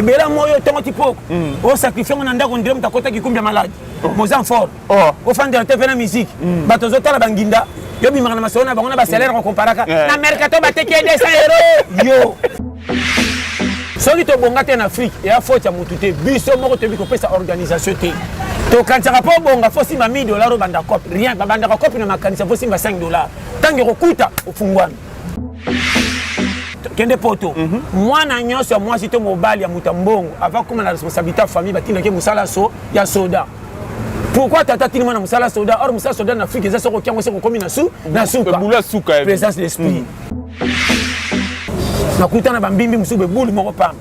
ebela yango oyo ntongo ti poko mm. osakrifie yango na ndako ndire moto akota kikumbi ya maladi oh. moza en fort oh. ofandela te mpe na miziki mm. bato ozotala banginda yo bimaka na masolo na bango na basalaire okomparaka mm. na mercato bateki ye 200 euro yo soki tobonga te na afrike eya faute ya motu te biso moko toyebi kopesa organisation te tokanisaka mpo obonga fo simba 1000 dollar obanda cope rien babandaka cope na makanisa fo simba 5 dollar ntango ekokuta ofungwami kende poto mm -hmm. mwana nyonso ya mwasi to mobali ya moto ya mbongo avant koma na responsabilité ya famille batindaki mosala so ya soda pourquoi tata tini mwana mosala soda or mosala soda na afrique eza soko kyango se kokomi na su na suka présence d'esprit mm. nakutana bambimbi mosusu bebulu moko pamba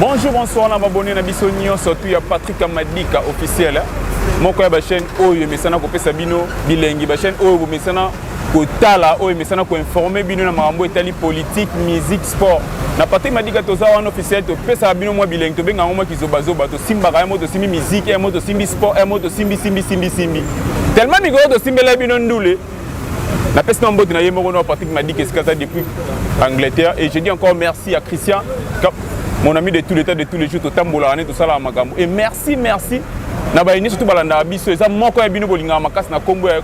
Bonjour, bonsoir na babone na biso nyonso tu ya Patrick Amadika officiel moko ya bachaîne oyo emesana kopesa bino bilengi bachaîne oyo bomesana kotala oyo emesana koinforme bino na makambo etali politique musique sport na patrick madika toza wana officiel topesaka bino mwa bilengi tobenga yango mwa kizobazoba tosimbaka yango tosimbi miziki yango tosimbi sport yango tosimbi simbi simbi simbi tellement mikolo tosimbela bino ndule napesi na mbote na ye moko na patrick madike esika aza depuis angleterre et je dis encore merci à christian mon ami de tout l'état de tous les jours totambolaka nde tosalaka makambo et merci merci na baye nyonso to balandaka biso eza moko ya bino bolingaka makasi na nkombo ya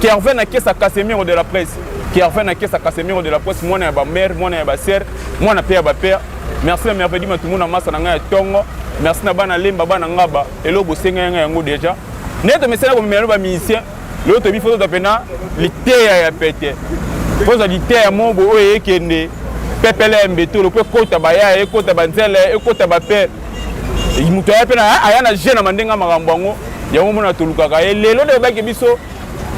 kervin na kesa casemiro de la presse kervin na kesa casemiro de la presse mwana ya bamare mwana ya basere mwana mpe ya bapere merci na mervedi matumu na masa na ngai ya ntongo merci na bana lemba bana ngaba eloko bosengai ngai yango déjà nde tomesana komemela no bamusicien lelo toyebi fo tozwa mpena liteya ya pete fo tozwa liteya moko boye oyo eyekende pepele ya mbetolo mpo ekota bayaya ekota banzele ekota bape moto aya mpe aya na je na mandenge ya makambo yango yango mona tolukaka ye lelo nde bayebaki biso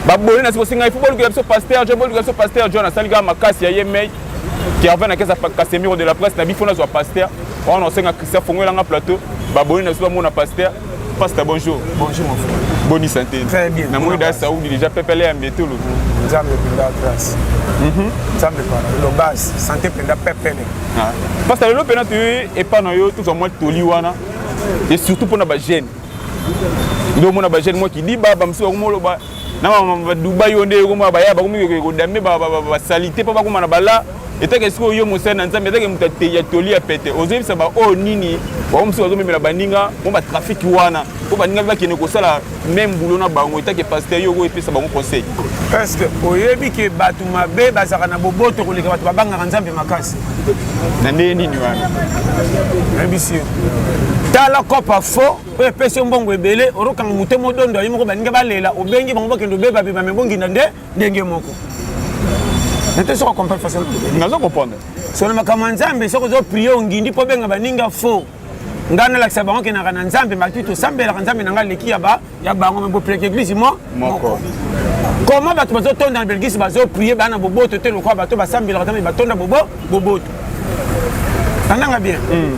baboni na sikosi ngai fo bolukela biso paster john bolukela biso paster john asali kaka makasi ya ye mei kervin akesa kasemiro de la presse na bifo nazwa paster wana osenga christian fongoelanga plateau baboni na biso bamona paster Pasta, bonjour. Bonjour, mon frère. Bonne santé. Très bien. Na mwe da Saoudi déjà pepele ya mbetulu. Nzambe penda grâce. Mhm. Nzambe penda le base, santé penda pepele. Ah. Pasta, lelo pena tu et pas na yo tout en moi toli wana. Et surtout pour na ba jeune. Ndio mona ba jeune moi qui dit baba msuwa kumoloba na ba Dubai onde ko ba ya ba kumiki ko dame ba ba salite pa ba kumana bala etake sikoyo yo mosali na nzambe etake moto ya toli ya pete ozoyebisa baoyo nini bango mosusu bazomemela baninga mo batrafiki wana mpo baninga mpe bakende kosala meme bulo na bango etake paster yo okoyepesa bango conseil parceke oyebi ke bato mabe bazalaka na boboto koleka bato babangaka nzambe makasi na ndenge nini wana nayebisi yo tala kopa fo oyo epesi yo mbongo ebele orokanga moto modondo ayi moko baninga balela obengi bango bakende obebabeba me bonginda nde ndenge moko nate soko comprendre façon nazo comprendre solo makambo ya nzambe soko ozo prie ongindi mpo obenga baninga faux ngai nalakisa bango kenaka na nzambe batu tosambelaka nzambe na ngai aleki ya bango me bopreke eglise mo moko koma bato bazotonda na belgisi bazoprie bana boboto te lokola bato basambelaka nzambe batonda bobo boboto nandanga bien hmm.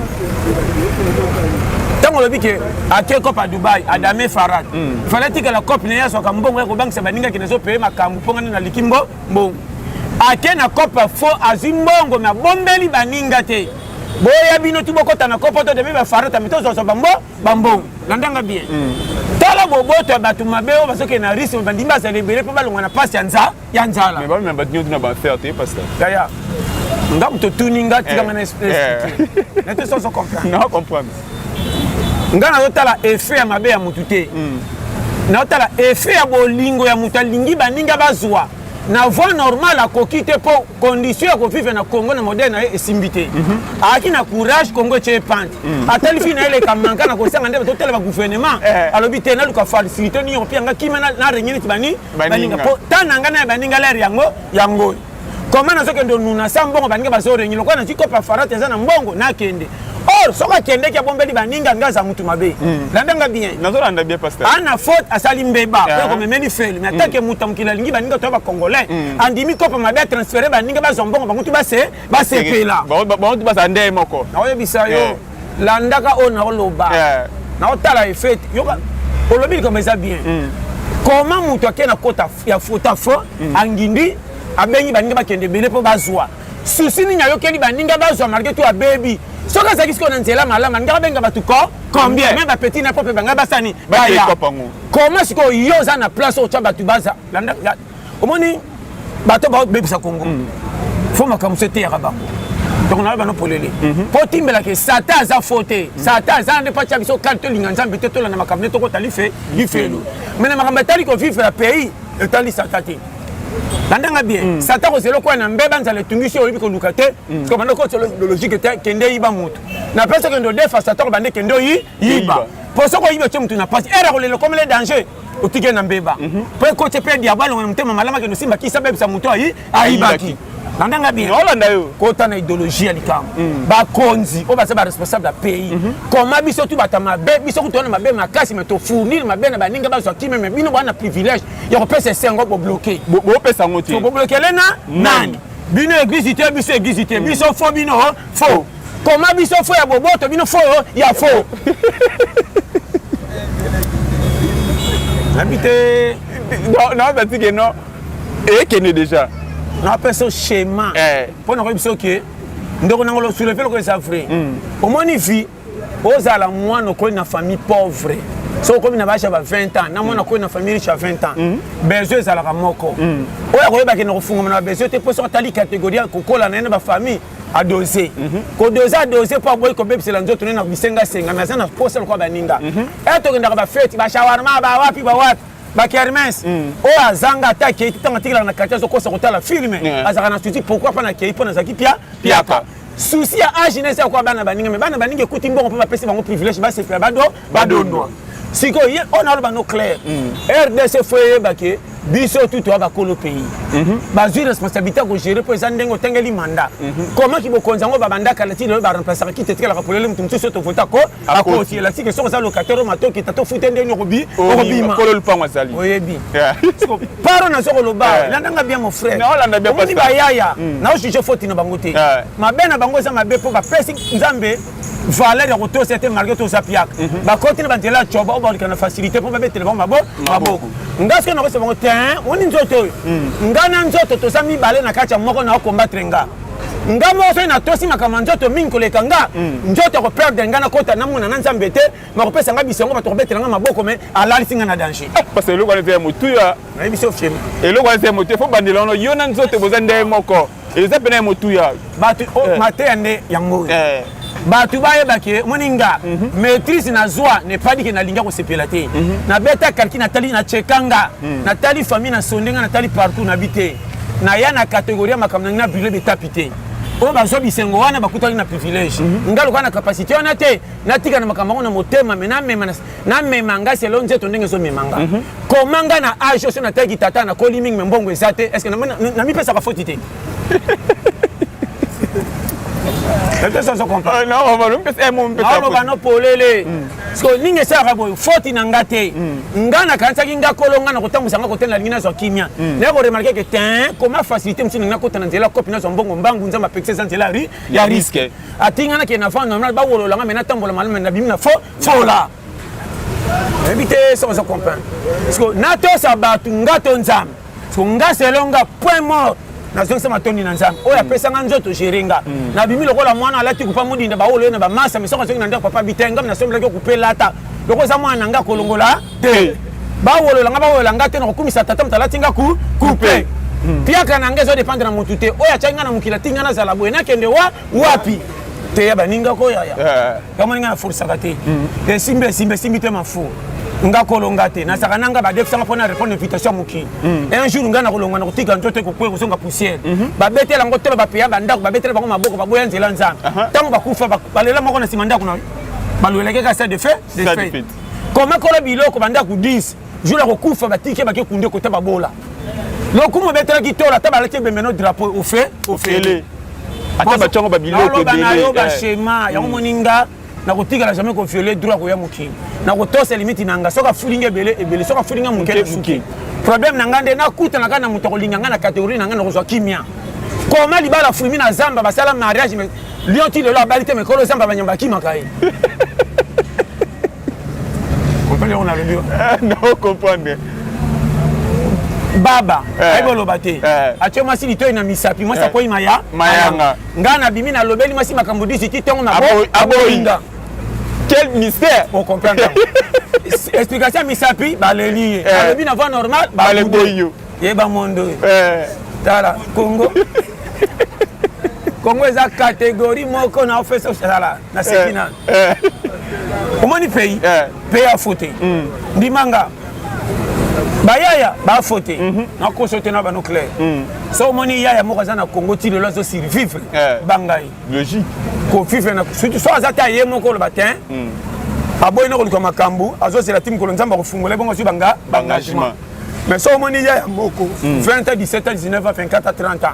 ntango olobi ke ake cope ya dubai adame farad hmm. fale atikala cope naye azwaka mbongo ya kobangisa baninga kende ezopeye makambo mpo ngani naliki mbo mbongo ake na cope fo azwi mbongo me abombeli baninga te boya bino ti bokɔta na kopo to demi bafarata mi tozwazwa bambo bambongo na ndanga bien hmm. tala boboto ya bato mabe oyo bazokende na risme bandimi bazala ebele mpo balongwa na mpasi ya nza ya nzala mais bamema bato nyonso na baaffaire te pasteur yaya nga moto otuni nga tikanga eh, na esprit eh. na te soso comprendre na comprendre nga nazotala effet ya mabe ya motu te hmm. nazotala effet ya bolingo ya moto alingi baninga bazwa na voie normale akoki te mpo condition ya kovivre na congo na modele na ye esimbi te mhm. ayaki na courage congo etye epante mhm. atali fii na ye eleka manka na kosanga nde totalaba gouvernement eh. alobi te naluka facilité nini opianga kima na rengi neti bani baninga po temps na ngai na ya baninga lere yango yango koma nazokende onuna sa mbongo baninga bazorengi lokola nazwi kopa farate eza na mbongo nakende or soki akendeki abombeli baninga nga aza mutu mabe hmm. landa nga bien nazolanda bien pasteur ana faute asali mbeba oyo ah. komemeli feli mais atake hmm. mutu ya mokili alingi baninga toya bacongolais hmm. andimi kopa mabe atransfere baninga bazwa mbongo bango tu basepela bango tu bazala ndeye moko naoyebisa yo eh. landaka oyo naoloba yeah. naotala efete yoka olobi likambo eza bien mm. koma moto ake na kota ya fota fo mm. angindi abengi baninga bakende ebele mpo bazwa susi nini ayokeli baninga bazwa malgre to abebi soki azalaki sikoyo na nzela malamu alinga abenga bato ko combien me bapetit na po mpe bangai basani baya koma sikoyo yo oza na place oyo otya bato baza omoni bato babebisa kongo mm. fo makambo so eteyaka bango donc nayo bano polele mhm. mpo timbelake sata aza fo te mhm. sata aza nde mpo atya biso kani tolinga nzambe te tolanda makambo nde tokota life lifelo mhm. mai na makambo etali kovivre ya pays etali sata te bandanga bien mm. sata kozela okoya na mbeba nzala etungisi oyo oyebi koluka te mm. siko banda okoti lologike te kende yiba motu na place okende odefa sata kobande kende oyi yiba mpo soki oyibi otye motu na mpasi ere akolela okomele danger otike na mbeba mhm. mpo ekoti mpe diabo alonga na motema malamu akende osimba kisi abebisa moto ayi ayibaki bandanga bien olanda yo kota na idéologie ya likambo mm. bakonzi oyo baza baresponsable ya pays mhm. koma biso tu bata mabe biso kutu wana mabe makasi me tofournir mabe na baninga bazwa kime me bino bwana privilège ya kopesa esengo bobloke bopesa yango te boblokele na mm. nani bino eglise te biso eglise te mm. biso fo bino fo koma biso fo ya boboto bino fo ya fo nabi te naoza tike no ekende déjà napesa yo schéma eh. mpo na koyebi soki ndeko nango losuleve lokola eza vrai hmm. omoni vie ozala mwana okoli na famille pauvre so okomi na bage ya ba 20 ans na mwana okomi na famille riche ya 20 ans hmm. besoin ezalaka moko hmm. oyo akoyebaki na kofungama na babesoin te mpo soki atali catégorie ya kokola na ye na bafamille adose kodose adose mpo aboyi kobebisela nzoto ne na bisengasenga naza na posa lokola baninga mhm. e tokendaka bafeti bashawarma bawapi bawapi bakermes mm. oyo azanga ata akei ntango atikelaka na quartier azokosa kotala filme azalaka na susi pourkui mpo na kei mpo nazalaki pia piaka susi ya age nese akoya bana baninga me bana baninga ekuti mbongo mpo bapesi bango privilège basepela bado badondwa sikoyo ye oyo naloba no claire mm. rdc fo eyeba ke biso tu toya bakolo pays mhm. bazwi responsabilité ya kogere mpo eza ndenge otangeli mandat mhm. komaki bokonzi yango babandaka na ntina oyo baremplacaka kiti etekelaka polele moto mosusu oyo tovota ko akoti elasike soki oza locataire matoki tata ofute nde nini okobi okobima oyebi paro nazo koloba landanga bien mon frère omoni bayaya mm. naojuge foti na bango te mabe na bango eza mabe mpo bapesi nzambe valeur ya kotosa te malgré toza piaka mhm. bakoti na banzela ya coba oyo bakoleka na facilité mpo babetele bango maboko nga soki nakosa bango te oni nzoto oyo mhm. nga na nzoto toza mibale na kati ya moko na okombatre nga nga moko soki natosi makambo ya nzoto mingi koleka nga mhm. nzoto akoperdre nga nakota namona na nzambe te makopesa nga bisengo bato kobetela nga maboko me alalisi nga na danger eh, parce eloko wana eza ya motuya nayebi so fiemi eloko wana eza ya motuya fo bandela wana yo na nzoto boza ndenge moko eza pena ya motuya bato oh, eh. mateya nde yango oyo eh. bato bayeba ke omoni nga mhm. maîtrise nazwa nepadi ke nalingi kosepela te mhm. nabeta kalki natali nacheka nga mhm. natali famille nasonde nga natali partout nabi te naya na kategorie ya makambo nangi na brule betapi te oyo bazwa bisengo wana bakutaki na privilège nga lokola na capacité wana te natika na makambo yango na motema me namema na mema nga selo nzeto ndenge ezo mema nga mhm. koma nga na age oso nataki tata nakoli mingi me mbongo eza te estce namipesaka foti te aloba no polele siko ndenge esalaka boye foti na nga te nga nakanisaki nga kolo nga na kotambwisa nga kotela nalingi nazwa kimia naye koremarke ke tin koma facilité mosusu ndenge nakota na nzela kopi nazwa mbongo mbangu nzambe apekisa eza nzela ya riske atinga nakende na vanda bawolola nga me natambola malamu na bimi na fo fola nayebi te soki ozo comprendre parceke natosa bato nga to nzambe parceke nga selo nga point mort nazongisa matondi na nzambe oyo apesa nga nzoto gere nga mm. nabimi lokola mwana alati kupa modinda baolo ye na bamasa misoko azongi na ndako papa bite ngam nasombelaki okupela ata lokola eza mwana na nga kolongola te bawolola nga bawolola nga te nakokumisa tata moto alati nga kupe mpiaka hmm. na nga ezodependre na motu te oyo atyaki nga na mokili atingi nga nazala boye nakende wa wapi teya baninga ko yaya eh. yango ninga na folisaka te mm. esimbi esimbi esimbi te mafo nga kolonga te nazalaka nanga badefisanga mpo na répondre invitation ya mokili mm. un jour ngai nakolonga na kotika nzoto ekokwe kozonga poussière mhm. babetela yango tolo bapeya bandako babetela bango maboko baboya nzela nzambe ntango bakufa balela moko na nsima ndako na balwelaki kaka stade de fait de fait komekola biloko bandako 10 jour ya kokufa batiki ye bake kunde kota babola lokumu ebetelaki tola ata balaki ebembeno drapeau ofe ofele ata batya yango babiloko ebele bashema yango moni nga nakotikala jamais koviole droit koya mokili nakotosa limiti na nga soki afuli nga ebele ebele soki afuli nga moke nasuki problème na nga nde nakutana kaka na moto akolinga nga na catégorie na nga nakozwa kimia koma libala fulmi na zamba basala mariage lion ti lelo abali te mekolo zamba banyamba akimaka ye comprendre yango nalobi eh, nao comprendre baba eh. ayebi oloba te eh. atye mwasi litoi na misapi mwasi akwei maya mayanga ngai nabimi nalobeli mwasi makambo disi ti ntongo naboyinga quel mystère o comprendre explication ya misapi baleli ye alobi na voix normal baleboyi yo yeba mondo tala congo congo eza catégorie moko na ofesa osala naseki na omoni pays pays afo te hmm. ndima nga bayaya bafo te mhm. nakoso te na bano claire hmm. so omoni yaya moko aza na congo ti lelo azo survivre banga ye logique kovivre na surtout so aza te aye moko oloba te aboyi na koluka makambo azozela ti mokolo nzambe akofungola ebongo azwi banga engagement mais soki omoni ya ya moko 20 a 17 a 19 a 24 a 30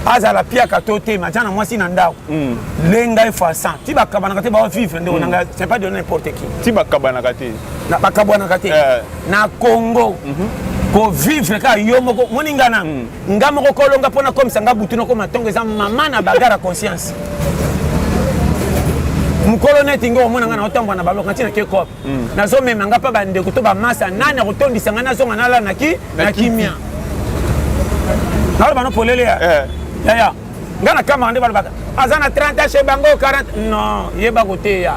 a azala piaka to te matya na mwasi na ndako mm. lenga efasan ti bakabanaka te bawa vivre ndeko mm. na ngai c'est pas de n'importe qui ti bakabanaka te bakabwanaka te eh. na congo mhm. kovivre kaka yo moko moni nga na mm. nga moko kolonga mpo nakomisa nga butu nakoma ntongo eza mama na bagara conscience mokolo neti nga omona nga na otambwa na baloko ntina ke cope mm. nazomema nga mpe bandeko to bamasa nani akotondisa ngai nazonga nalala na ki na kimia naloba no polele ya eh. yaya nga na kamara nde balobaka aza na 30 ans chez bango 40 non yeba koteya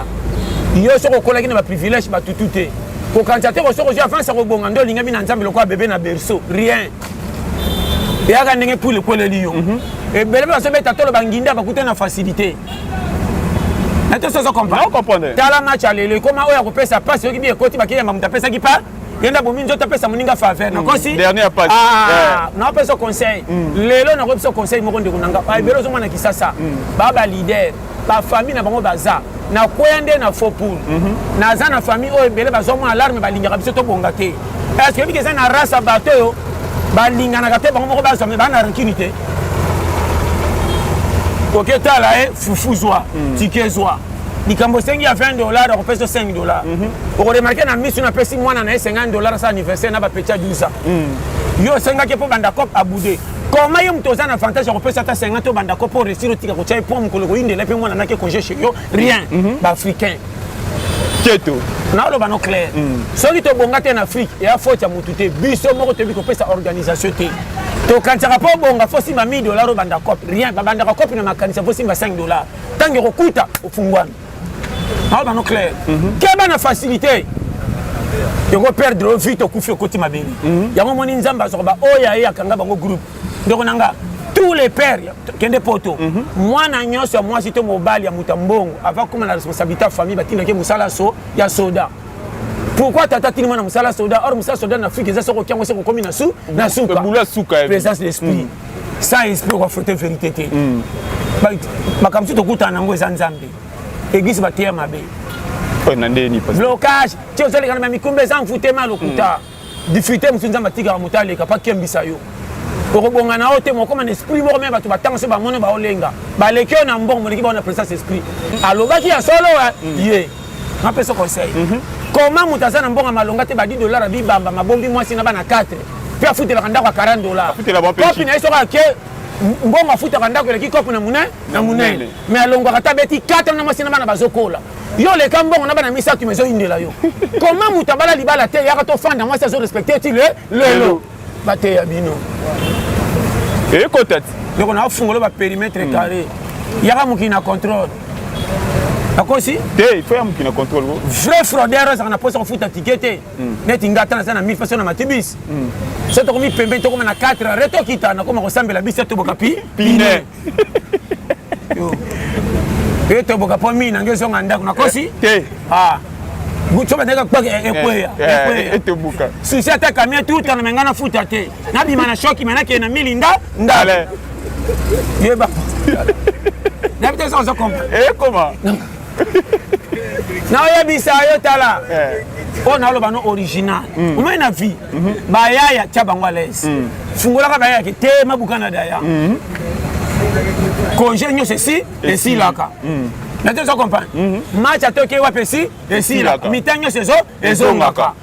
yo soki okolaki na baprivilège batutu te kokanisa te kosoki ozwi avance ya kobonga nde olingami na nzambe lokola bebe na berceau rien eyaka ndenge pule ekweleli yo mhm. ebele mpe bazobeta tolo banginda bakutani na facilité tala match ya lelo ekoma oyo akopesa pasi oyoki bi ekoti bakeyamba moto apesaki pa yenda bomi nzoto apesa moninga faveur hmm. nakosi ah, naopesa conseil hmm. lelo nakoki biso conseil moko ndeko na nga ah, ebele ozomona kisasa hmm. ba ba leader bafamille na bango baza nakweya nde na faux poul mhm. naza na famille oyo ebele bazwa mwa alarme balingaka biso tobonga te est ce que oyebiki eza na race ya bato oyo balinganaka te bango moko bazwa me baa na rancune te oke tala ye eh, fufu zwa mm. tike zwa likambo osengi ya 20 dollar akopesa 5 dollar mm -hmm. okoremarke na misu napesi mwana na ye 50 dollar asala anniversaire na bapeti ya 12 ans mm. yo osengaki mpo banda cop abude koma ye moto oza na avantage ya kopesa ata 50 to banda cop mpo resir otika kotya ye mpo mokolo koyindela mpe mwana nake congé chez yo rien mm -hmm. ba africain keto naoloba no clair mm. soki tobonga te na afrique eya faute ya motu te biso moko toyebi kopesa organisation te tokanisaka mpo obonga fo simba 1000 dollar obanda cope rien babandaka cope na makanisa fo simba 5 dollar ntango ekokuta ofungwami naoloba no clair mm -hmm. keba na facilité tokoperdre yo vie tokufi okoti mabele mhm. yango omoni nzambe azwaka baoyo aye akanga bango groupe ndeko na nga tous les pères kende poto mhm. mwana nyonso ya mwasi to mobali ya moto ya mbongo ava koma na responsabilité ya famille batindaki mosala so ya soda pourquoi tata tini mwana mosala soda or mosala soda na afrique eza soko okiango se kokomi na su na suka eh. présence d'esprit mm. sans esprit okafrote vérité te mm. makambo mosusu tokutana nango eza nzambe eglise bateya mabe blocage ti ozalekana na mikumba eza mfutema lokuta mm. difficulté mosusu nzambe atikaka moto aleka mpo akembisa yo okobonga na yo te mokoma na esprit moko me bato batanga se bamono baolenga baleki oyo na mbongo moleki bao na présence esprit alobaki ya solo mm. ye napesa conseil mhm. koma moto aza na mbongo ya malonga te badi dollar abibamba mabombi mwasi na bana 4 mpe afutelaka ndako ya 40 dollar kopi na ye soko ake mbongo afutaka ndako eleki kopi na monene na monene me alongwaka ta beti 4 na mwasi na bana bazokola yo leka mbongo na bana misato ma ezoyindela yo koma moto abala libala te yaka tofanda mwasi azo respecte ti le lelo bateya bino ekotati ndeko na ofungolo baperimetre hmm. carré yaka mokili na contrôle akosi te ifo ya mokili na contrôle ko vrai fraudeur azalaka na mposa kofuta tike te hmm. neti nga ata naza na mille faso na matibis hmm. so tokomi pembeni tokoma na 4 re tokita nakoma kosambela biso toboka pi pine yo toboka mpo mingi nange ezonga ndako nakosi eh, te ah. so bandaki akpaka eh, ekweya eh, etebuka susi ata kamia tutana me ngai nafuta te nabima na shoki me nakee na milinda ndale yeba nabi te eza oza kompa ekoma naoyebisa yo tala eh. oyo naoloba no original mm. omoi na vie mm-hmm. bayaya tya bango alaise mm. fungolaka bayaya ke te mabuka na daya mm-hmm. congé nyonso esi esilaka nato ozo comprendre mm-hmm. match atoki wapi esi esilaka mita nyonso ezo ezongaka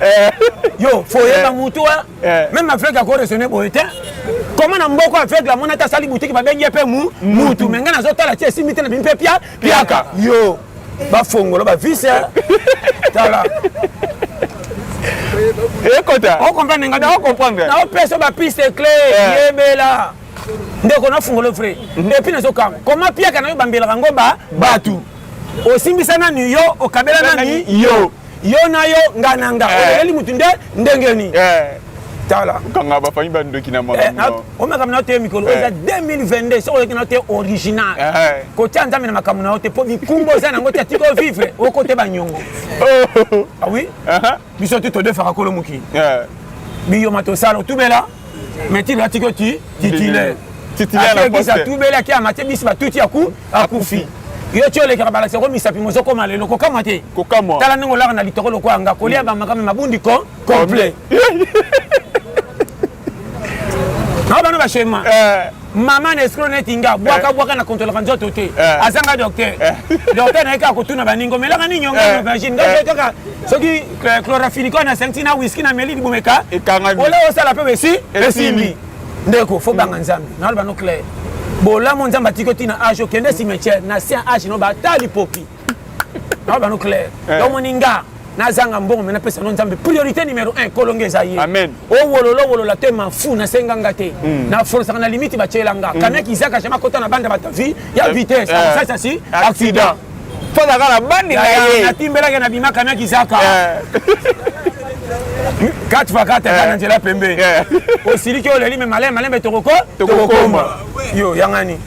eh. yo foyeba eh. mutu wa eh. meme aveugle ako raisonne boye te koma na mboko aveugle amona te asali butiki babengi ye mpe mutu me ngai nazotala ti esimbi te na bimi mpe pia piaka yo bafongola bavise tala ekota okomprendre ngai naokomprendre naopesa bapiste cle yebela ndeko nafungola vrai mhm. epuis nazokanga koma piaka nayo bambelaka ngo ba batu osimbisa nani yo okabela nani yo yo na yo nga na nga eh. oleleli motu nde ndenge nini eh. tala kanga bafami bandoki na makambo eh, makambo na yo te mikolo oyo eza 2022 soki oleki na yo te original kotya nzambe na makambo na yo te mpo bikumba oza nango te atiki ovivre okote banyongo awi oh. ah uh-huh. biso tu todefaka kolo mokili biyoma tosala otubela mais ti lati ko ti titulaire titulaire atubeli ake amate bisi batuti aku akufi yo ti olekaka balakisa ko misapi mozokoma lelo kokamwa te kokamwa tala ndenge olaka na litoko lokola nga kolia bamakama mabundi ko complet na bana bashema eh. mama na escro neti nga bwaka eh. bwaka na kontrolaka nzoto te eh. aza nga docteur eh. docteur naye kaka kotuna baninga omelaka nini yonga aubergine ngai kaka soki chlorafinico na senti na wiski na meli libomeka ola osala mpe besi esimbi ndeko fo banga nzambe naloba no claire bolamu nzambe atiki otina age okende cimetière na sia age no bata lipopi na bano claire eh. omoni nga nazanga mbongo me napesa no nzambe priorité numéro 1 kolonga eza ye owololo owolola te mafu nasenga nga te hmm. na forosaka na limite batyela nga hmm. kamia kizaka jama kota na banda bata vie ya eh. vitesse eh. akosasa si accident tozaka na bandi na ye natimbelaki na bima kamia kizaka kati fa kati ata na nzela pembe osiliki oleli me malembe malembe tokoko tokokoma yo yangani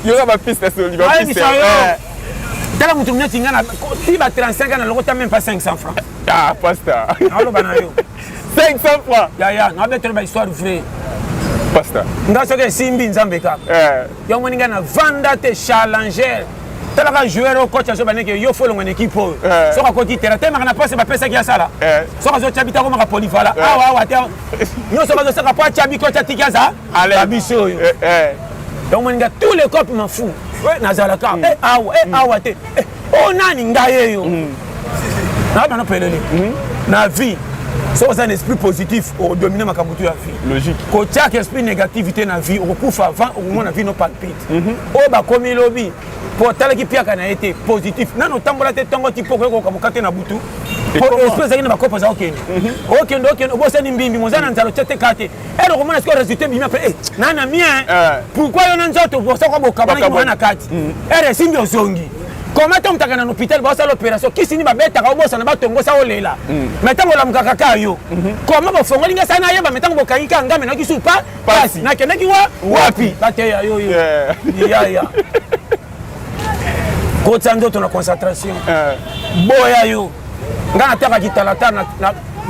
yoka ba pistes soli ba pistes eh. tala moto neti nga na ti ba 35 ans na lokota même pas 500 francs ah pasta aloba na yo 500 francs ya ya na betela ba histoire vraie pasta nga soki esimbi nzambe kaka eh. yango moni nga na vanda te challenger talaka joueur oyo coach azoba ndenge yo folongo na ekipe oyo eh. soki akoti tera temaka na mpasi bapesaki asala eh. soki azotya bita akomaka polivala eh. awa awa te nyonso bazosaka mpo atya biko atya tiki aza babisi oyo eh, eh. omoninga tous les cop mafu nazalaka mm. eh, awa mm. awa te oyo oh, nani ngai eyo mm. nabana pelele na vie soki oza na esprit positif odomine makambo to ya vie kotiaka esprit négativité na vie okokufa avant okomona vie no palpite mhm. oyo bakomi lobi mpo otalaki mpiaka na ye te positif nano otambola te ntongo ti mpo okoki kokoka mokate na butu mpo esprit ezalaki na bakopo eza okende okende okende obosani mbimbi moza na nzala otya te kaa te ero komona sikoyo resultat ebimi apres eh, na na mien eh. pourkui yo na nzoto bosoko bokabana kimona na kati mm. ere eh, esimbi ozongi koma tomutaka na hôpital baosala opération kisi ni babetaka obosana batongosa olela mm. mai ntango olamukaka ka yo mhm. koma bofongoli nga sana ayeba mai ntango bokangi ka ngambe nakisi pa pasi nakendaki wa wapi bateya yo yo yaya kotisa nzoto na concentration eh. boya yo nga nataka kitalatala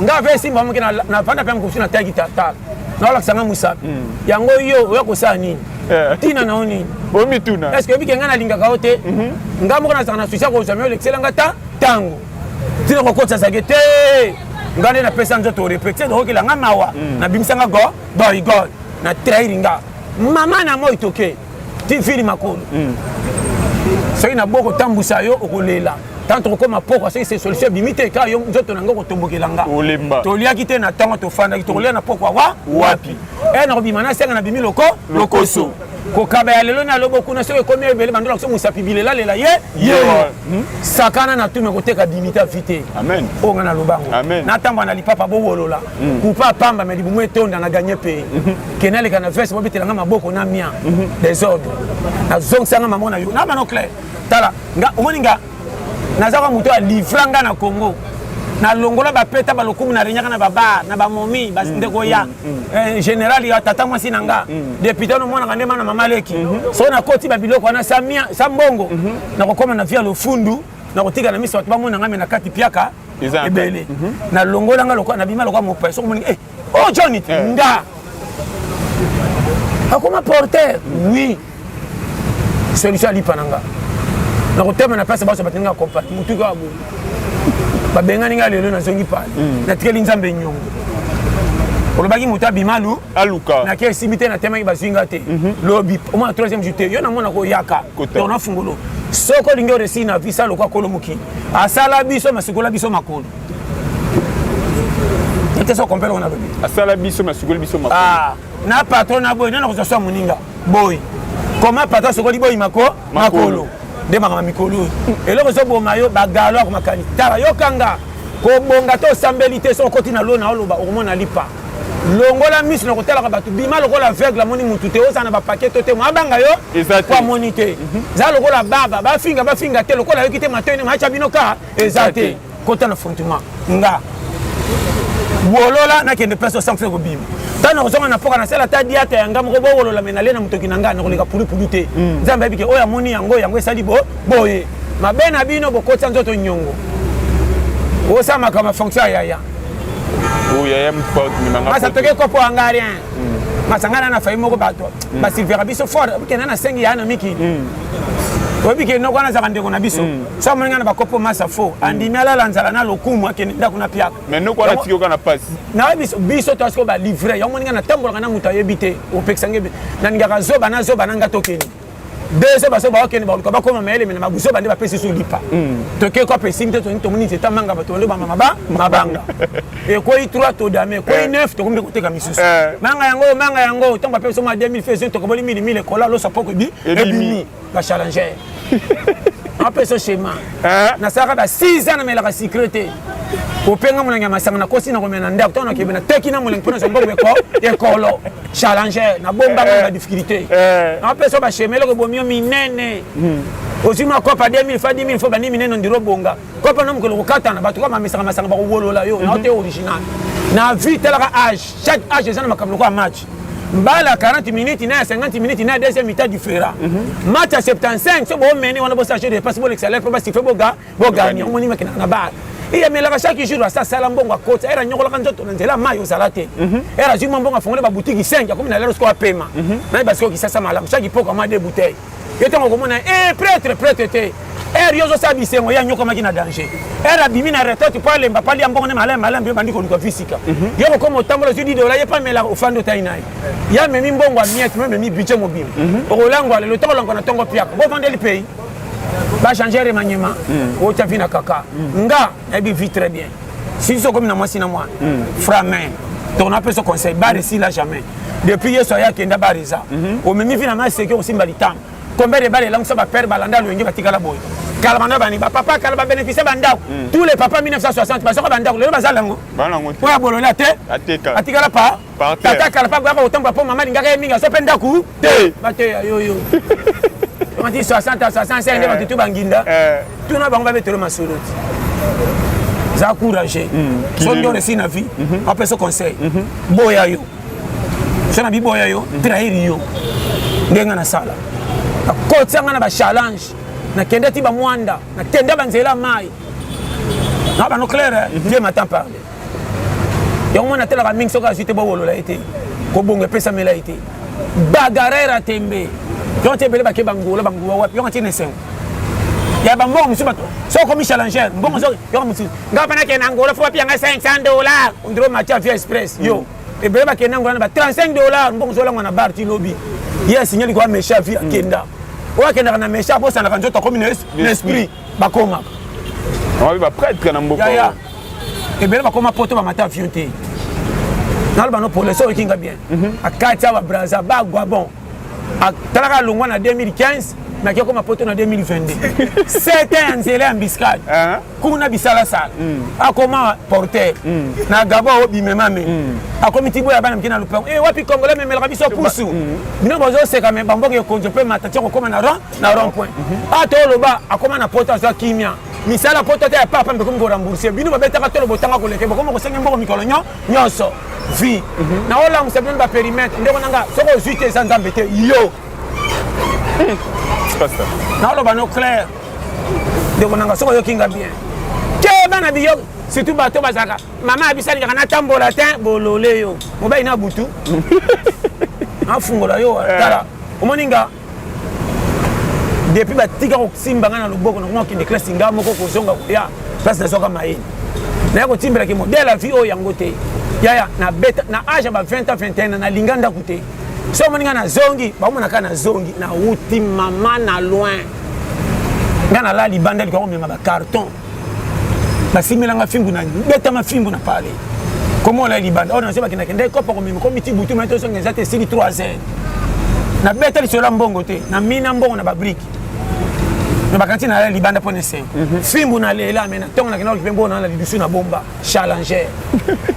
nga ave esimba moke navanda mpe mokosu nataki kitalatala naolakisa nga mosapi hmm. yango yo oya kosala nini eh. ntina na yo nini omituna eske oyebike ngai nalingaka yo te mhm. nga moko nazalaka na susi ya kozwa mi olekisela nga ta ntango ntina kokotisa zake te nga nde napesa nzoto orepete okokela nga mawa hmm. nabimisa nga go boy god na trahiri nga mama na moi toke ti fini makolo mm. soki na boko tambusa yo okolela tanto okoma pokwa soki se solution ebimi te kaka yo nzoto na ngai okotombokela nga olemba toliaki te na ntango tofandaki tokolia na pokwa wa wapi e nakobima na senga na bimi loko lokoso kokaba ya lelo na lobo kuna soki ekomi ebele bandola koso mosapi bilelalela ye ye hmm? sakana na tume koteka dimita vite oyo ngai nalobango natambwa na lipapa bowolola mm. kupa apamba me libumu etonda na gagne pays mm -hmm. kena leka na veste bobetela nga maboko na mia mm -hmm. desordre nazongisa nga mama na yo na bana clair tala nga omoni nga naza kwa moto ya livra nga na congo nalongola bapeta balokumu na renyaka na babar na bamomi bandeko ya mm, mm, mm. Eh, général ya tata mwasi na nga depute wana omonaka nde mana mama leki mhm. soki nakoti babiloko wana sa mbongo mhm. nakokoma na via lofundu nakotika na miso bato bamona ngai me na kati piaka ebele mhm. na longola nga lokola na bima lokola mopaya soko moni eh, oh john it eh. nga akoma porter oui solution alipa na nga na kotema na place baso bateninga compagnie motu kaka boye babengani nga lelo nazongi pale mhm. natikeli nzambe nyongo olobaki moto abima lu aluka na kei simbi te natemaki bazwi nga te mhm. lobi omona troisième jour te yo namona koyaka donc nafungolo soko olingi oresi na visa lokwa kolo moki asala biso masikola biso makolo te so kompele ngo nalobi asala biso masukoli biso makolo ah, na patron na boye nana kozwa swa moninga boye koma patron asokoli boyi mako makolo nde makambo mikolo oyo eloko ezoboma yo bagalo akomakani tala yokanga kobonga to osambeli te so okoti na lona oloba okomona lipa longola miso na kotalaka bato bima lokola aveugle amoni motu te ozala na bapake to te mwa abanga yo po amoni te mhm. za lokola baba bafinga bafinga te lokola ayoki te matoi ndenge matya bino ka eza te kota na frontiment nga wolola nakende place osanfle kobima ntango nakozonga na mpoka nasala ata diata ya nga moko bowolola me nale na motoki na nga nakoleka pulupulu te mm. nzambe ayebike oyo amoni yango yango esali boye mabe na bino bokotisa nzoto nyongo osamaka mafonction ya yaya masa toke kopo yanga rien hmm. masa ngai na na fayi moko bato hmm. basilvera biso fort okenda na sengi ya na miki hmm. oyebi ke noko wana azalaka ndeko na biso so amoni ngai na bakopo masa fo andimi alala nzala na lokumu akende ndako na piaka nayebi biso to asiko balivre yango moni ngai natambolaka na moto ayebi te opekisa ngai nalingaka zoba na zoba na ngai tokende deux ans bazoba bakende baluka bakoma mayele mena mabuzoba nde bapesi so lipa hmm. toke ko apesi nte toni tomoni nzete amanga bato bande bamama ba mabanga ekwei trois todame ekwei eh. neuf tokomi nde koteka misusu eh. manga yango manga yango ntango bapesi oma 2000 fesi tokoboli mili mili ekola loso poko ebi ebimi bachallenger apesa schéma eh. nasalaka ba 6 ans namelaka secret te openga molangi ya masanga nakosi nakomela na ndako ntango nakebe nateki na molangi mpo nazwa mbongo ekolo challenger na bomba eh, eh. na difficulté eh. na pesa ba chemin loko bomio minene hmm. ozwi mwa kopa 2000 fa 10000 fo bandi minene ondiro bonga kopa na mokolo kokatana bato kaka mamesaka masanga bakowolola yo na te mhm. original na vie talaka age chaque age eza na makambo lokola match mbala 40 minutes na ya 50 minutes na ya deuxième mita du frera mhm. match ya 75 so boomene wana bosage de passe bolekisa lef mpo basife boga bogani omoni makendaka na bar eye amelaka chaque jour asi asala mbongo akoti ere anyokolaka nzoto na nzela mai ozala te mhm. ere azwi mwa mbongo afongoli babutiki 5 akomi na lelo sikoyo apema mhm. naye basikoyo kisasa malamu chaque ipoko amwa de bouteille yo ntango okomona e eh, pretre pretre te ere yo ozosala bisengo ye anyokomaki na danger ere abimi na retraite po alemba pali ya mbongo nde malamu malamu yo bandi koluka visika mhm. yo kokoma otambola ozwi didola ye pamela ofandi otai na ye ye amemi mbongo amiete me omemi budget mobimba okolangwa lelo ntango olangwa na ntongo piaka bovandeli pays ba changer remaniement hmm. o tafi na kaka hmm. nga na bi vit très bien si so comme na mwasi na mwana hmm. framin donc na peso conseil ba resi la jamais depuis yesu aya kenda ba reza mhm. o memi vina ma seke o simba litamba combien de balles langue ça ba père balanda lo ngi batikala boy kala bana bani ba papa kala ba bénéficier ba ndako tous les papas 1960 ba soka ba ndako lelo ba zala ngo ba ngo po ya bolona te atikala pa tata kala mpe akoyaka kotambola mpo mama alingaka ye mingi azo mpe ndako te mateya yoyo omati 60 65 nde bato tu banginda tuna bango babetelo masolo ti za courage so nde oresi na vie apesa conseil boya yo so na biboya yo trahir yo ndenge nga nasala nakotia nga na bachallenge nakende ti bamwanda nakende banzela mai na bano claire nde matan parle yango mwana atalaka mingi soki azwi te bowolola ye te kobongo epesamela ye te bagarere atembe yango ti ebele bake bangola bangola wapi yango atina esengo ya bambongo mosusu bato soki okomi challenger mbongo soki yango mosusu ngai mpe nakende angola fo bapia ngai 500 dollar ondiro matia via express yo hmm. ebele bakende angola na ba 35 dollar mbongo zolangwa na bar ti lobi ye asignali koya mesha via hmm. kenda oyo akendaka na mesha akosanaka nzoto akomi na esprit bakongaka wapi bapretre na mboka yaya ebele bakoma poto bamata avion te naloba no polese oyoki nga bien mhm. akati awa braza bagwa bon atalaka alongwa na 2015 naki okoma poto na 2022 sete ya nzela ya mbiskade uh-huh. kuna bisalasala mm. akoma porter mm. na gabo obimemame mm. akomi ti boya bana mike na lopango e eh, wapi congolais memelaka biso pusu bino bozoseka me bamboka ekonzo mpe matati okokoma na rang na rond point ata ah, oloba akoma na poto azwa kimia misala poto ata ya papa mpe komi korembourse bino babetaka tolo botanga koleke bokoma kosenga mboko mikolo nyonso vie mhm. na olamusa bino baperimetre ndeko na nga soki ozwi te eza nzambe te yo hmm. naoloba no claire ndeko na nga soki oyoki nga bien te bana biyo surtout bato bazalaka mama abisalingaka natambola te bolole yo mobali na butu afungola yo eh. tala omoni nga depuis batika kosimba ngai na loboko nango akende klasi ngai moko kozonga koya place nazwaka mayele naye kotimbelaki modele ya vie oyo yango te yaya nabeta na age ya ba 20 ans 21 nalinga ndako te so omoni ngai nazongi baomonaka nazongi nauti mama na loin ngai nalala libanda likwa komema bacarton basimbelanga fimbu na betama fimbu na pale komola libanda oyo oh, nazebaki nakendaki kopa komema komiti butu mai tozonga eza te esili 3 heures nabeta lisolo ya mbongo te na mina mbongo na babrike na bakanti na libanda mpo na esengo mhm. fimbu na lela me na ntongo nakenda kokipe mbongo na na lidusu na bomba challenger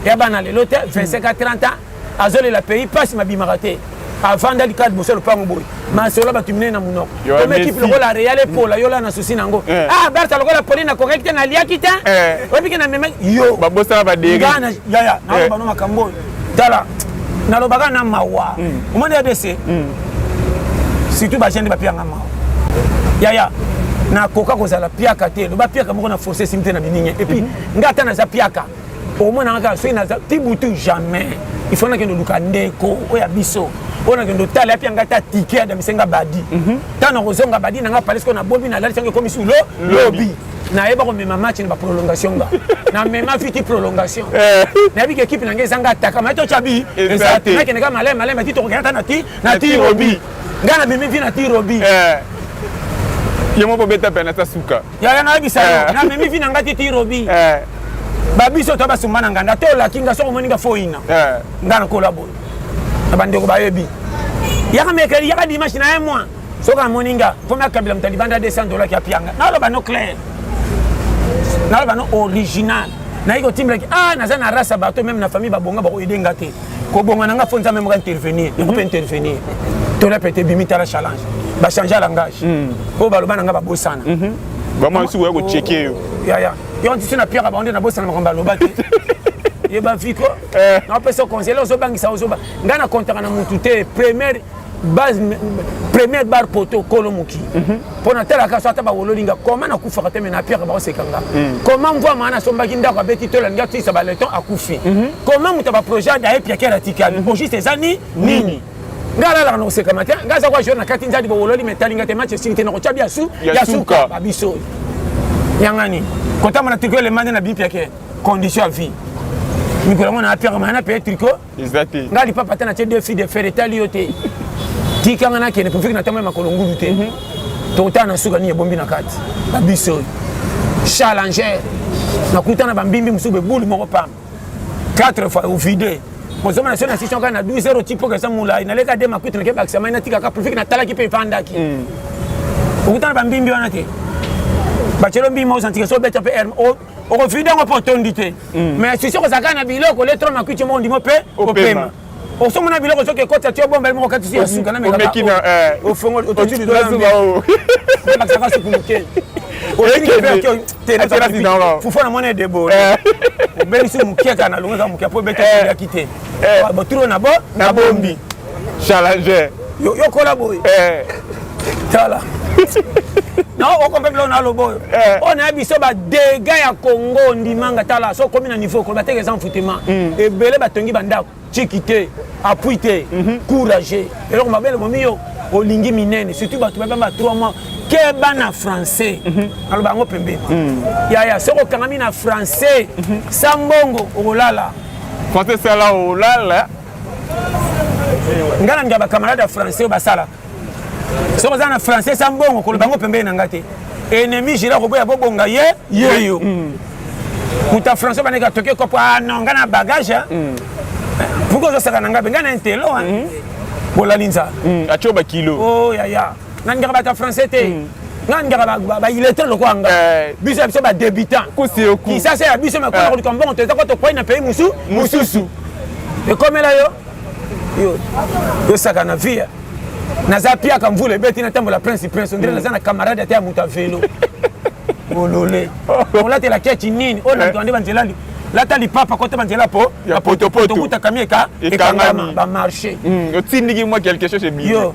ya bana lelo te 25 a 30 ans azolela pays pasi mabimaka te avanda likala liboso ya lopango boye masolo bato minene na monoko omekipe lokola real epola yola na susi na yango eh. ah barta lokola poli na kokaki te naliaki te eh. obike na mema yo babosana badeigana yaya naloba eh. no makambo oyo tala nalobaka na mawa hmm. omoni ya dese hmm. surtout bagene nde bapiyanga mawa yaya nakoka kozala piaka te loba piaka moko na force esimi te na biningi epuis mhm. nga ata naza piaka omonaka kaka soki naza ti butu jamais il faut nakende oluka ndeko oyo ya biso oyo nakende otala yapi yanga ata tike ya damise nga badi mhm. ntango nakozonga badi nanga palais ko nabobi nalalisi yango ekomi sulo lobi nayeba komema match na baprolongation nga namema fiti prolongation eh. nayebi ke ekipe nanga ezanga ataka mai tocabi ezanakende ka malai malai mati tokokenda ata nati na ti robi ngai nabimi vi na ti robi eh. ye moko beta pene ata suka yaya nayebisa yo eh. namemi vi na ngai te tirobi eh. babiso to basumba na nganda to olaki nga soko omoni nga foyina eh. nga nakola boye na bandeko bayebi yaka mekeli yaka dimanche na ye mwa soki amoni nga mpo nakabila moto libanda 200 dola ki apianga naloba no claire naloba no original naye kotimbelaki a ah, naza na rasa bato meme na famille babonga bakoyede nga te kobonga na nga fo nzambe moko intervenir ekope mhm. intervenir tona pete bimi tala challenge bachange langage oyo baloba na nga babosana vraiment esi koya kocheke yo yaya yo ntisi na pierre bango nde nabosana makambo aloba te yeba viko napesa conseil ozobangisa ozoba ngai na kontaka na motu te première base première bar poto kolo moki mhm. mpo natalaka so ata bawololi nga koma nakufaka te me na pierre baoseka nga mhm. koma mvua maa nasombaki ndako abeti to elangi atisa baleton akufi mhm. koma moto ya baprojet daye piakere atikali mpo juste eza ni nini nga alalaka na kosekama te nga aza kwa jour na kati nzadi bowololi metali nga te match esili te nakotya bya su ya suka babiso yangani kotambona triko elemande na bipiake condition ya vie mikolo yango na apiaka maa na peye triko eza te ngai lipapa ata natie deux filles de fer etali yo te tika ngai nakende profiki na ntango ya makolo ngulu te mhm. tokotala na suka nini ebombi na kati babiso oyo challenger nakutana bambimbi mosusu bebulu moko pamba 4 fois ovide ozomona so na station kaka na 12 heure otipoka eza molai naleka de makutu nake bakisa mai natikaka profiki natalaki mpe efandaki mm. okutana bambimbi wana te bacelo mbimbi ozantika so obeta mpe okofida yango mpo otondi te mm. mais susi okozala kaka na biloko le tro makuiti moko ndimo mpe opema osomona biloko soki ekotisa ti obomba moko katisi ya suka na mekaaofongoliototilidoaakisaka suku moke fufu na mwana edebo eh. obelisi moke kaka na longo eza moke mpo ebetayaki eh. te eh. baturo na bo na bombi Challenger. Yo yo kola boy. Eh. Tala. na okompe biloko na aloba oyo eh. oyo na ya biso badega ya congo ndimanga tala so okomi na niveau koloba teke eza mfutema hmm. ebele batongi bandako ciki te apui te mhm. courage eloko mabele momi yo olingi minene surtout bato babamba 3 mois keba na français mhm. naloba yango pembeni hmm. yaya soki okangami na français mhm. sa mbongo okolala français sala olala ngai nalinga bacamarade ya français oyo basalaka soki oza na français sa mbongo koloba yango pembeni na ngai te ennemi jila koboya bobonga ye yeyo mm. moto ya français baneki atoki ekopo ah non ngai na bagage ah. mm. pourkoi ozosaka na ngai mpe ngai na intelo ah. mm. bolalinza atio bakilo oh, yaya nga ningaka bato ya français te hmm. nga ningaka baillettre lokola nga eh. biso ya biso badebutant kisasa ya biso makona eh. koluka mbongo toza ko tokwai na pays mosu mosusu ekomela yo yosaka na via naza piaka mvula ebeti natambola prince prince ondire hmm. naza na camarade ata ya moto ya velo olole olatela kechi nini oyo na moto ande banzela lata lipapa kota banzela po ya potopoto okutaka mieka ekangama bamarché hmm, otindiki mwa quelque chose ebiyo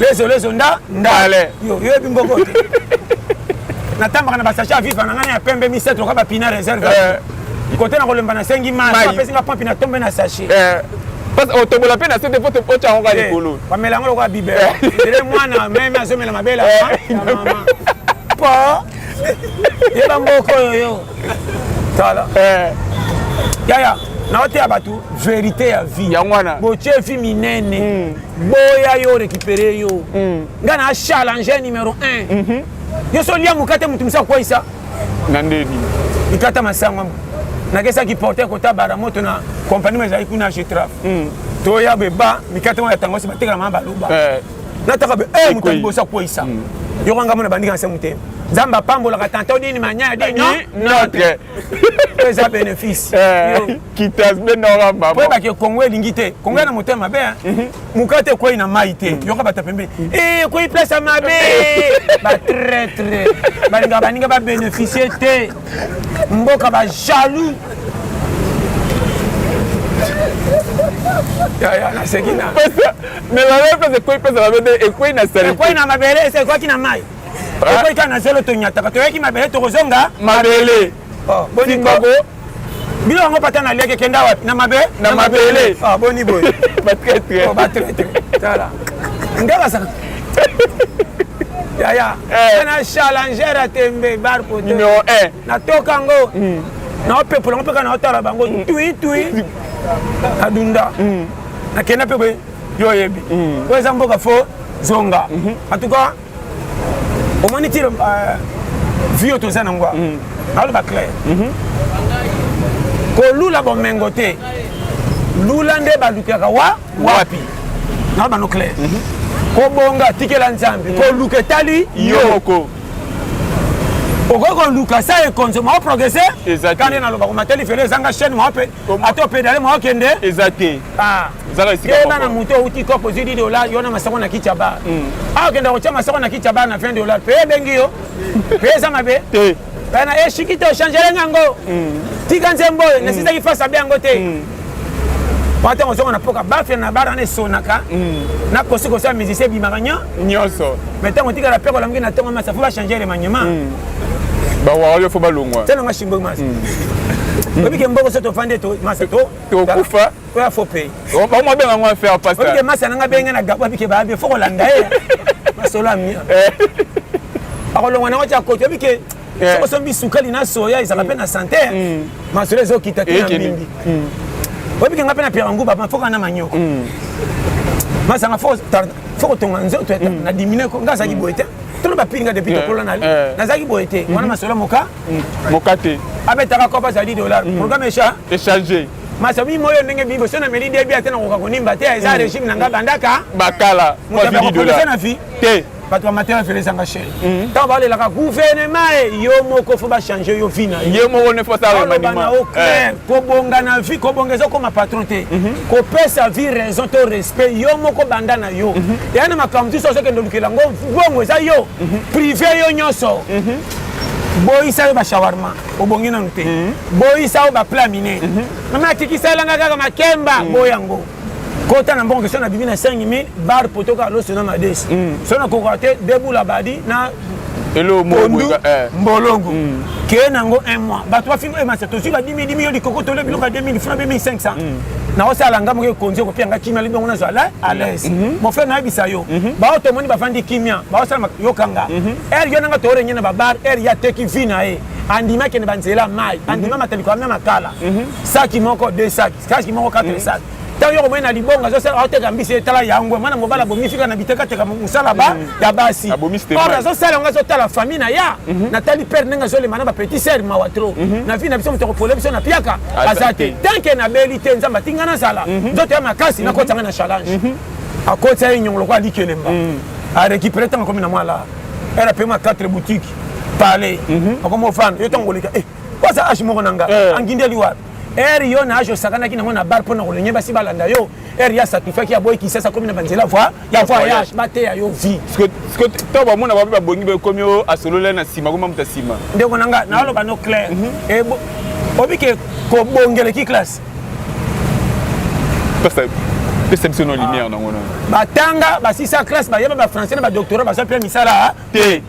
lezo lezo nda ndale yo yoyebi mboko te natambaka na basache ya viva na ngai ya pembe misato loka bapina reserve eh. kote na kolemba nasengi mai apesi nga pompi na tombe na sache eh. otobola mpe na sete po otya yango kaka eh, likolo bamela yango lokola bibe ele mwana meme azomela mabele po yeba mboko oyo yo tala yaya naoteya bato verité ya vie yango wana botie vie minene hmm. boya yo récupéré yo mm. nga na challenge numéro 1 mm -hmm. yo so lia mokate moto mosa akwayisa na ndeni ikata masango nakesaki porte kota bara moto na kompani ezali kuna getraf mm. toya beba mikate wana yatango si batekela maa baloba eh. nataka be eh, moto liboso akweyisa mm. yoko ngambo na bandika nse motema nzambe apambolaka tanta odini manyaya dino notre eza bénéfice eh. kitas be nora mama po ba ke kongo elingi te kongo na motema be mukate koi na mai te yoka bata pembe eh koi place ya mabe ba traitre balinga baninga ba bénéficier te mboka ba jaloux yaya naseki na mais balobi mpenza ekwei mpenza mabe nde ekwei na sali ekwei na mabele ese ekwaki na mai ekwei kaka na zelo tonyataka toyaki mabele tokozonga mabele boniko bino yango pata na liaki ekenda wapi na mabe na mabele ah, boni boye batraitre oh, batraitre tala nde bazaka yaya eh. na challenger ya tembe bar poto numero 1 natoka yango hmm. naopepola ngo mpe kaka naotala bango hmm. tui tui nadunda hmm. nakenda mpe boye yo oyebi oyo eza mboka fo zonga en tout cas omoni ti euh, vie oyo toza nango mm. naoloba claire mhm. kolula bomengo te lula nde balukaka wa wapi naoloba no claire mhm. kobonga tikela nzambe mm. koluka etali yoko okoki koluka sa ekonzo mao progrese kande nalobaka matali fele ezanga chaine mao mpe ata opedale mwa okende eza te ah. keba na moto outi kop ozwi di dolar yo na masoko na kiti ya bar hmm. awa ah, okenda kotya masoko na kiti ya bar na 20 dolar mpe ebengi yo mpe eza mabe bana eshiki eh, te ochangele ngango hmm. tika nzembo oyo hmm. nasisaki fasi abe yango te mpo ntango ozonga na mpoka bafia na bara na esonaka na kosikosi ya musicien ebimaka nyonso mai ntango otikala mpe kolamuki na ntongo masa fo bachange elemanyema bawaka yo fo balongwa tala nga shimbo masa hmm. oyebi ke mboko so tofandi to masa to tokufa oya fo pay oh, bango abenga ngo affaire pasta oyebi ke masa nanga benge na gabo abike baabe fo kolanda ye masolo amia eh. akolongwa nango tya koti oyebi ke eh. soko sombi sukali na soya ezalaka mpe na sante hmm. masolo ezokita te na mbimbi hmm. oyebi ke nga mpe na piaka nguba mafoka na manyoko masanga fo fo kotonga nzoto ya na diminue ko nga azalaki boye te tolo bapili nga depuis tokola na nazalaki boye te wana masolo moka moka te abetaka kopa azali dollar programme echa echange masabi moyo ndenge biboso na meli debi ate nakoka konimba te eza regime na nga bandaka bakala na fi te bato ya matela felesanga sheri mm. ntango balelaka guvernema e yo moko fo bachange yo vi na yo moko ne foaloba na yo clair kobonga na vi kobonga ezokoma patron te mhm. kopesa vi raison to respect yo moko banda na yo mhm. eya na makambo mosusu azokende olukela ngo bongo eza yo mhm. prive yo nyonso boyisa yo bashawarma obongi nanu te boyisa yo bapla mine mama atikisa elanga kaka makemba boyango kota na mbongo soki nabimi na 5000 bar poto kaka loso na madesi mm. soki nakokoka te debula badi na pondu eh. mbolongo mm. keye nango un mois bato bafingo emasa eh, tozwi ba 10 dimi yo likoko tole biloko ya 2000 funa mpe 1500 mm. naosala nga moke ekonzi okopia nga kimia libongo nazwa la alaise mm-hmm. mon frère nayebisa yo mm-hmm. bao tomoni bafandi kimia baosala yokanga ere mm-hmm. yo nanga toorenge na babar ere ya teki vi na ye andimaki na banzela mai andima mataliko amia makala saki moko de saki stage moko kaka esala ntango yo komoni na libongo azosala oteka mbisi etala yango mwana mobali abomisi kaka na bitekateka mosala ba ya basi or azosala yango azotala famille na ya natali pere ndenge azolema na bapetit ser mawa tro na vi na biso moto akopola biso na piaka aza te tanke nabeli te nzambe atinga nazala nzoto ya makasi nakotanga na challenge akotisa ye nyongo lokola aliki elemba arécupere ntango akomi na mwa la ere apema 4 boutique pale akomi ofanda yo ntango koleka waza age moko na nga angindeli wapi ere yo na age osakanaki nango na bar mpo na kolenge basi balanda yo ere ya sacrifiaki ya boyi kisasa akomi na banzela voi ya voyage bateya yo vie to bamona bape babongi bekomi o asololai na nsima koma moto ya nsima ndeko na nga naoloba no claire mhm. eh, obike kobongeleki classe pesa biso no lumière nango na batanga basisa classe bayeba bafrançais na badoctorat baza mpe misala te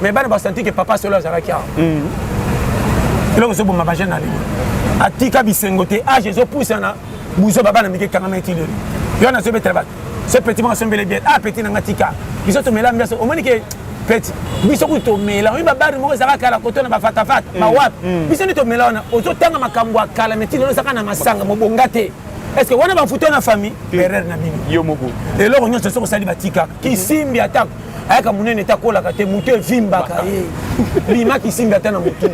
mais bana ba sentir que papa solo azalaki awa eloko ezoboma bajeune na lelo atika bisengo te age ezopusana buzoba bana mike kangama eti lelo yo wana azobetela bato so petit moko asombele bien ah petit nanga tika biso tomela mbiaso omoni ke petit biso kutu tomela oyebi babari moko ezalaka kala koto na bafatafata bawapi biso nde tomela wana ozotanga makambo ya kala meti lelo ezaka na masanga mobonga te est-ce que wana bafuto na famille erreur na bino yo moko eloko nyonso soki osali batikaka kisimbi atako ayaka monene te akolaka te motu evimbaka ye bima kisimbi ata na motu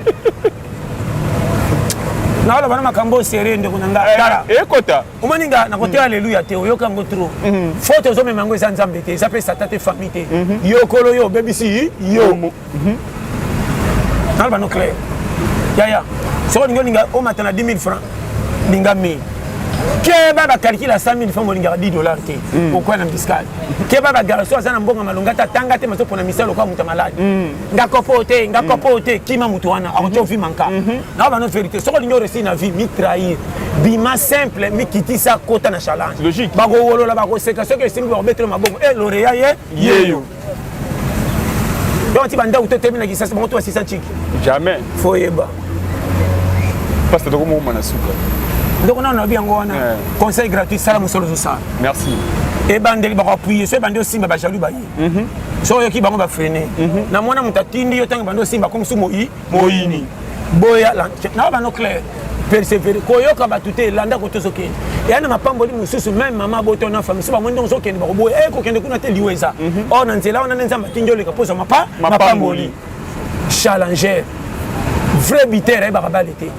naoloba na makambo oyo serie ndeko na ngai tala eh, ekota omoni nga nakoteya mm. aleluya te oyoka yango tro mm. faute ozomema yango eza nzambe te eza mpe sata te famille te mm-hmm. yokolo yo obebisi yo Mhm. naloba no claire yaya soko olingi olinga omata na 10 000 franc linga 1000 keba bakalkile ya 100 000 franc olingaka 10 dollar te hmm. okwya na fiscale keba bagarso aza na mbongo malonga ata atanga te mazopona misala lokola moto ya maladi hmm. nga kopo te nga hmm. kopo te kima moto wana akotya ovi manka nao bano verité soko olingi oresi na vie mitrahir bima simple mikitisa kota na challenge bakowolola bakoseka soki esimbi bakobetelo mabongo e eh, loreya ye yeyo donc ti bandako to temi na kisasa bango to basisa ntiki jamais fo yeba pasta toko mokoma na suka ndoko nano nabi yango wana eh. conseil gratuit sala mosolo ozosala merci ebandeli bakoapuye so ebandi osimba bajaloux baye mhm. so oyoki bango bafrene mhm. na mwana moto atindi yo ntango ebandi osimba komosu moi moyini boya na bano claire persevere koyoka bato te landa koto ozokende eya na mapamboli mosusu meme mama boto na famille so bamoni ndongo ozokende bakoboya e kokende kuna te liwa eza mhm. or na nzela wana nde nzambe atindi oleka mpo ozwa mapamboli challenger vrai biter ayebaka bale te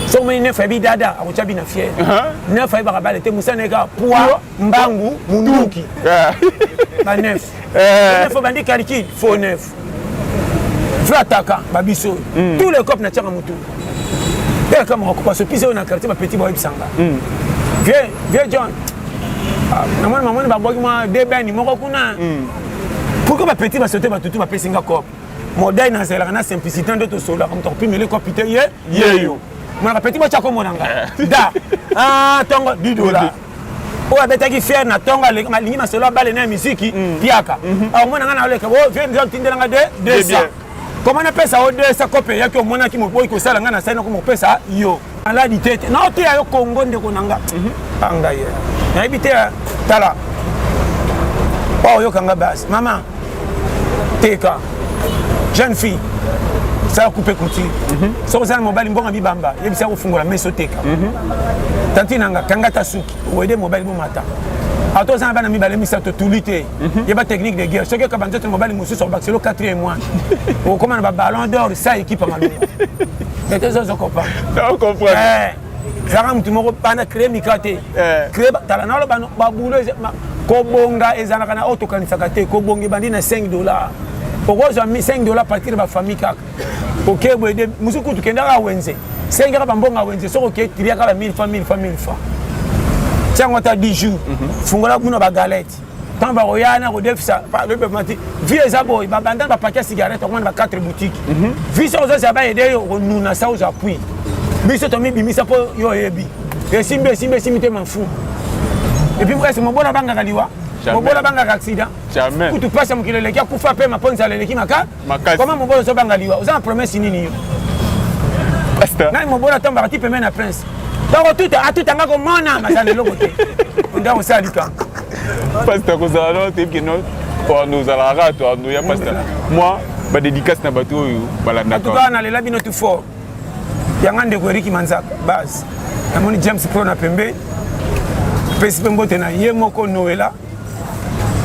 soki omoni nefa yebi dada akotya bina fiere uh-huh. nefa ayebaka bale te mosana eka pwa mbangu munduki banef eh. nefo bandi calcule fo nef vrai ataka babiso mm. tous les cop natiaka motu bela kama kokopa sopisa oyo na quartier bapeti baoyebisanga mm. vieux vieux john ah, namoni mamoni babwaki mwa debeni moko kuna mm. pourkoi bapeti basote batutu bapesi nga cop modai nazalaka na simplicité nde tosololaka moto akopimele kopi te ye yeyo monaka peti botya komona nga eh. da ah, ntongo didola oyo abetaki fiere na tongo alingi masolo abale na ya miziki mm. piaka mhm. aomona ah, ngai naoleka oh, fiere miziki otindela ngai de desa koma napesa yo desa kope eyaki omonaki moboyi kosala ngai nasali nako mopesa yo maladi te te naoteya yo kongo ndeko na nga mhm. angai nayebi te tala oyoka nga basi mama teka jeune fille sala coupe couture mhm. soki ozala mobali mbongo ya bibamba yebisa kofungola meso teka mhm. tanti nanga kanga ta suki oyede mobali bomata ata oza na bana mibale misato tuli te mhm. yeba technique de guerre soki okaba nzoto na mobali mosusu obakiselo 4 mois okoma na baballon d'or sa ekipe ya malonga ete ozozo comprendre ezalaka motu moko bana cree mika te eh. cree tala nalo babulo kobonga ezalaka na oyo tokanisaka te kobonga ebandi na 5 dollar okozwa 5 dollar partir bafamille kaka oke boyede mosu kutu kendaka wenze sengaka bambonga wenze soki oke tiliaka ba 1000 fa 1000 fa 1000 fa tiango ata 10 jours mhm. fungola kuna bagalete quand bakoya wana kodefisa mati vi eza boye babanda bapaki ya cigarette okomona ba 4 boutique mhm. vi soki ozozala bayede yo okonuna sa ozwa pui biso tomibimisa mpo yo oyebi esimbi esimbi esimbi te mafu epuis ese mobola bangaka liwa mobola bangaka accident kutu mpasi ya mokili eleki akufa mpe maponzala eleki maka makasi koma mobolo ozobanga liwa oza na promesse nini yo nani mobolo atombaka ti pembe na prince donc otuta atuta nga komona mazala eloko te onda kosala likambo pasta kozala no toyebi ke no oando ozalaka kaka toando ya pasta mwa badédicace na bato oyo balandaka nalela bino tu fort yanga ndeko eriki manzaka base namoni james pro na pembe pesi mpe mbote na ye moko noela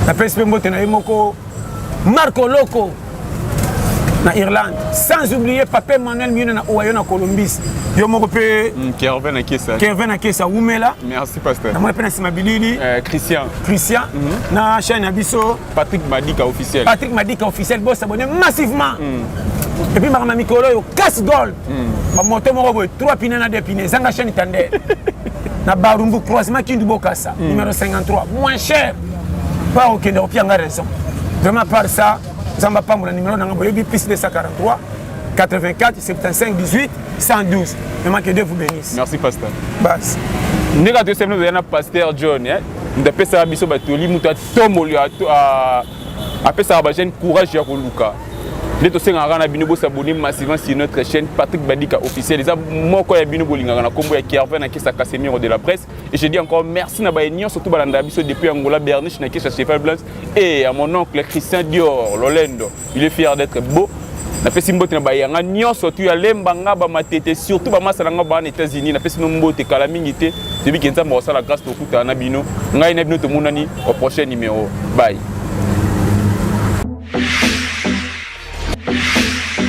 napesi mpe mbote na ye moko marco loko na irlande sans oublier papa emmanuel miyuna na owayo na colombis yo moko mpe mm, kervin akesa wumela namoni mpe na nsima bilili eh, christian christian mhm. na chaine ya biso patrick madika officiel patrick madika officiel bosabone massivement mm. epuis makambo ya mikolo oyo case gold hmm. ba moto moko boye 3 pine na 2 pine ezanga chaîne tande na barumbu croisement kindu bokasa hmm. numéro 53 moins cher pa okende kopia nga raison vraiment par ça nzambe apambola numéro nanga boyebi plus 243 84 75 18 112 vraiment que dieu vous bénisse merci pasteur bas ndenge atoyesami ozoya na pasteur john eh? ndapesaka biso batoli moto atomoli apesaka ba jeune courage ya koluka nde tosengaka kaka na bino bosabone massivement sur notre chaîne patrick badika officiel eza moko ya bino bolingaka na nkombo ya kervin na kesa casemiro de la presse et je dis encore merci na baye nyonso to balandaka biso depuis angola berniche na kesa cheval blanc et à mon oncle christian dior lolendo il est fier d'être beau napesi mbote na bayanga nyonso tu ya lemba nga bamatete surtout bamasa na nga baa na états-unis napesi no mbote kala mingi te toyebi ke nzambe akosala grâce tokutana na bino ngai na bino tomonani au prochain numéro bye